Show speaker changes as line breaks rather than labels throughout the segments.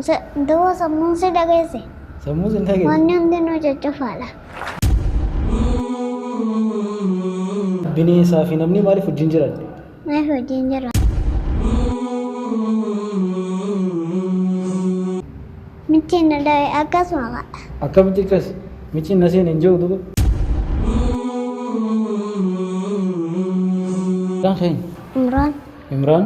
Se- Duwwa sammuun si dhageesse. Sammuun sin dhageesse.
Wanni hundinuu
coccofaadha.
Bineensaa fi namni maaliif wajjin jiran? Maaliif wajjin
jira? Michi na dhabe akkasuma ka'a. Akkamitti akkas?
Micciin na seene hin jiru duba. Maqaan keenya? Imraan.
Imraan.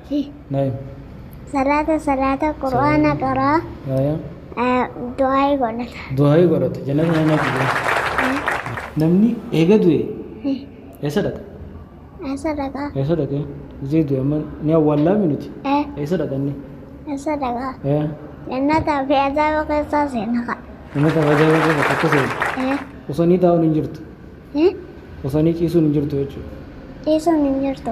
Hi. Naim. Salaata
salaata qur'aana qaraa Aya. eh, du'aa'ii godhata. Du'aa'ii godhata. Jannata
nama jibee. Namni eega du'e eessa dhaqa? Eessa
dhaqaa? Eessa dhaqa?
Zee du'e amma ni awwaallaa minuti. Eh, Eessa dhaqanni? Eessa dhaqaa?
Eh. Jannataa fi azaaba keessaa seena ka'a. Nama taphachaa bakka
bakka akka seenu. Eh, Osoo ni taa'uun hin jirtu. Hin. Osanii ciisuun hin jirtu jechuudha. Ciisuun hin
jirtu.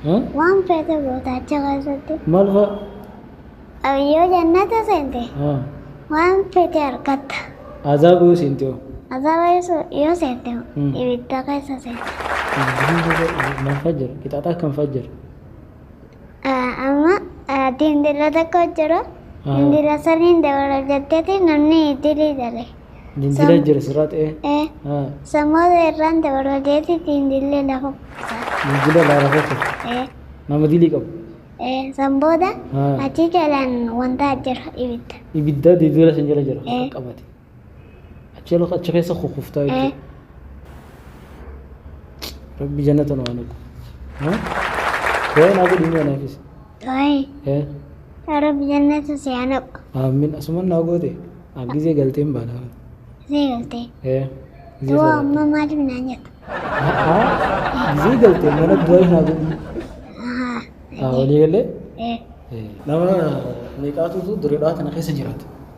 Haa? Waan feete goota achi keessatti. Maal
fa'a? Yoo jannata
seente Haa. waan feete argatta. Azaaba yoo
seente hoo? Azaaba yoo se-
yoo seente hoo Hmm. ibidda keessa seenta.
Maal fa'a jira? Qixaaxa akkam fa'a jira? Amma
ati intala tokko jira. Intala saniin dabala jetteeti namni dilii dale. Dindila jira
sirraa ta'ee. Sammoosa
irraan dabala jeeti dindillee lafa kutaa. Dindila
lafa kutaa. Nama dilii qabu. San booda
achi jalaan wantaa jira ibidda. Ibidda dindila
san jala jira qabate. Achi ala achi keessa kukuftaa Eh. jechuudha. Rabbi jannata nu haa naqu. Ha? Du'aa naa godhi mee anaafis. Du'aayi.
Eh. Yaa Rabbi jannata si haa naqu. Amin asuman naa
goote. An gizee galteen baana. Zee galtee. Eh.
Gizee Du'a salaata. amma maaliif naan jettu? A'a.
Gizee galteen mana du'aa naa godhi. Ahaa. Haa walii galee. Eh. Nama meeqaatutu dureedhaa tana keessa jiraata.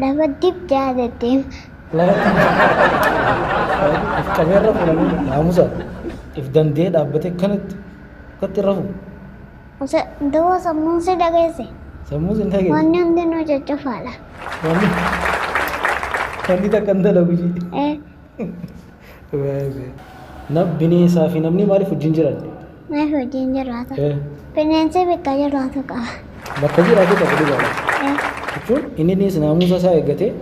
Lama dib ja'a deddeema.
If qabee irra fuudhanii naamusa if danda'ee dhaabbatee kanatti akkatti irra fuudhu. Ose
dawoo sammuun si dhageesse. Sammuu sin dhageesse.
Wanni hundinuu caccafaadha.
Wanni
wanni takka hin dalagu ishii. Eh, Nam bineensaa fi namni maaliif wajjin jiran? Maaf wajjin
jiraata? Eh, Bineensi bakka jiraatu qaba. Bakka jiraatu
qaba dhugaadha. Eh, Jechuun inni innis naamusa isaa eeggatee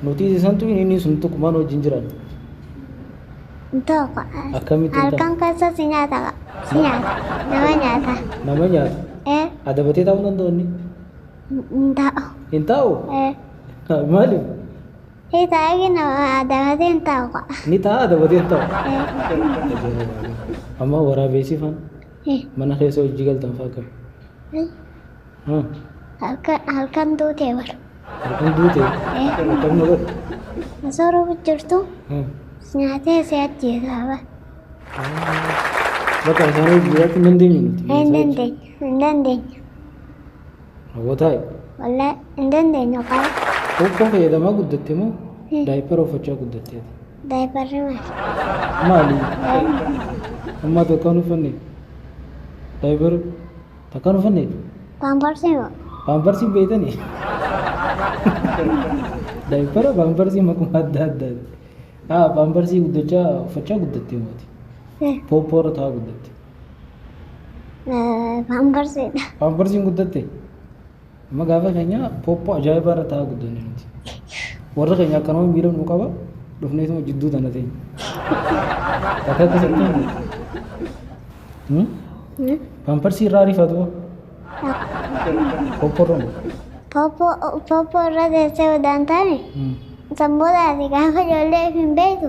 nuti santu inni inni sun tokko maal wajjin jiran? Tokko.
Akkamitti hin Halkan
keessa si
nyaata qaba. Si nyaata. Nama nyaata. Nama nyaata.
Eh, Adabatee taa'uu danda'u inni? hin
taa'u. Hin taa'u?
Eh, Maaliif? Hii
taa'ee kenna dabatee hin taa'u ka'a. Ni taa'a
dabatee hin taa'u. Amma waraabeessi faan mana keessa hojii galtan faa akkam? Halkan
halkan duutee bar. Halkan duute
akkam na godhe? Osoo roobu
jirtu nyaatee si ajjeesaa bar.
Bakka isaanii jiraachuu hin dandeenye nuti. Hin dandeenye
hin dandeenye.
Raawwataa Wallee
hin dandeenyu kaa. Huuffoo fayyadamaa
guddatte moo daayippara uffachaa guddatteeti? Daayiparri
maali?
Maali? Ammaa takka hin uffanne? Daayippara takka hin uffanne? Paamparsi moo?
Paamparsiin beektanii?
Daayippara paamparsiin maquma adda addaati. Haa paamparsiin guddachaa uffachaa guddatte mooti. Pooppoo irra taa'aa guddatte.
Paamparsiidha. Paamparsiin guddatte.
Amma gaafa keenya pooppoo ajaa'ibaa irra taa'aa guddanne nuti. Warra keenya akkanuma miira nu qaba dhufneetuma jidduu tana teenya. Akka keessatti hin Paamparsi irraa rifatu pooppoo irra moo? Pooppoo
irra teessee udaan taane sanboota ati gaafa ijoollee hin beektu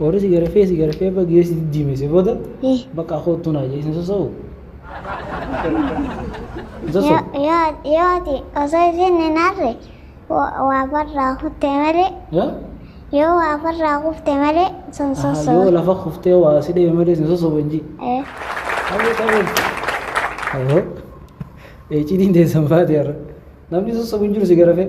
Warri si garafee si garafee abba gidee si diddiimese booda bakka koottuu naa jee isin sosoo'u. Hin
sosoo'u. Yoo ati osoo isin hin arre waa farraa kutte malee Yaa? yoo waa farraa kufte malee sun Aha, Yoo sosoo. lafa kuftee waa
si dhebe malee isin sosoo'u hin jii. Aboo ta'uu. Aboo. Eeciitiin teessan baate har'a. Namni sosoo'u hin jiru si garafee.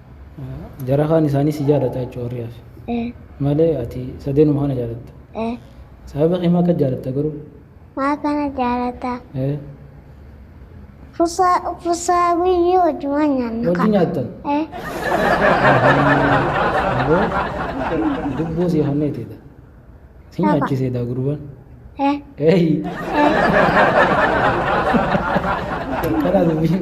Jara kaan isaanii si jaalataa jechuudha warri hafe. Ee. Malee ati sadeenuma kana jaalatta. Ee. Sababa kee maa akka jaalatta garuu? Maa kana
jaalata? Ee. Fusaa fusaa guyyuu wajjumaan nyaanna. Wajji nyaattan?
Ee. Aboo dubbuu sii hanneeteedha. Si Dhaba. nyaachiseedha gurbaan. Ee. Eeyi. Ee. Kana dubbii.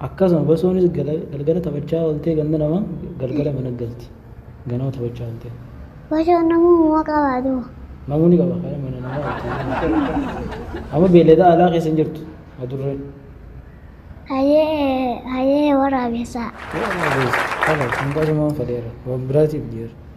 Akkasuma Basoonis galgala taphachaa ooltee ganda namaa galgala mana galti. Ganama taphachaa ooltee. Basoon namuu
muma qabaa duuba. Namuu ni qaba
kaya mana namaa ooltee. Amma beeleda alaa keessa hin jirtu adurreen.
Hayee hayee waraabessaa. Waraabessa kana
akkasumaan faleera waan biraatiif jeera.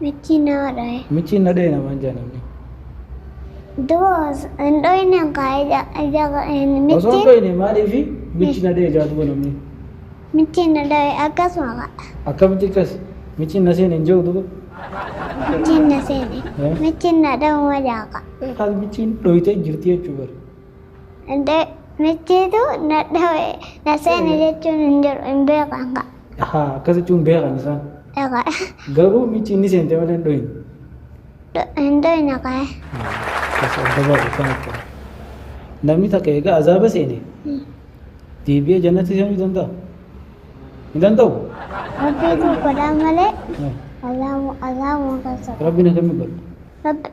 Michiin nama
dhaye. Michiin na dhaye namaan
jaa namni.
Duos hin dhoyne kaa ija ija Osoo hin michiin dhoyne
maaliifi michi na dhaye jaa duba namni. michiin na
dhaye akkasuma kaa. Akkamitti akkas
michiin na seene hin jehu duba. Michiin
na seene. Eh. Michiin na dhahuma jaa kaa. Eh, Kaas michiin
dhoytee jirti jechuu bara. Michiitu
na dhawe na seene jechuun hin jiru hin beekan kaa. Ahaa akkas jechuun
beekan isaan. Egaa Garuu michi inni seente malee hin dhoyin. hin
dhoyne kaa. Akkas
adda baase kan akka. Namni takka egaa azaaba seene deebi'ee jannatti seenuu danda'a? Hin danda'u? Rabbiitu
godhaa malee Eh, azaabuma kan soba. Rabbiin akkamiin godha?
Rabbi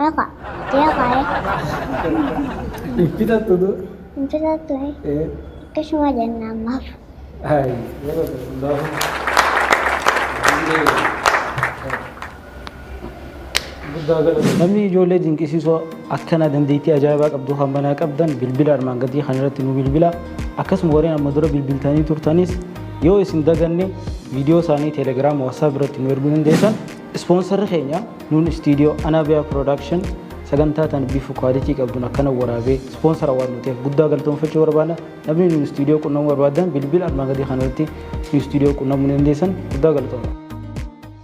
Aka. Dia kaya.
Kita tuh tuh. Itu satu eh.
Eh. Itu
semua jangan nama. Hai. Namni ijoollee dinqisiisoo akkana dandeettii ajaa'ibaa qabdu kan banaa qabdan bilbila armaan gadii kan irratti nu bilbila akkasuma warreen amma dura bilbiltanii turtanis Yoo isin daganne viidiyoo isaanii Telegram, WhatsApp irratti nu erguu dandeessan. Ispoonsarri keenya nuun istiidiyoo Anaabiyaa Production sagantaa tan bifa kwaalitii qabduun akkana waraabee ispoonsara waan nuteef guddaa galatoomfachuu barbaada. Namni nuun istiidiyoo qunnamuu barbaadan bilbila armaan gadii kanarratti nu istiidiyoo qunnamuu dandeessan guddaa galatooma.